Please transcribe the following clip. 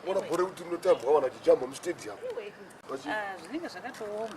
ona gore kuti munotambwa vana chijamba mustadium ah, zvinenge zvakatooma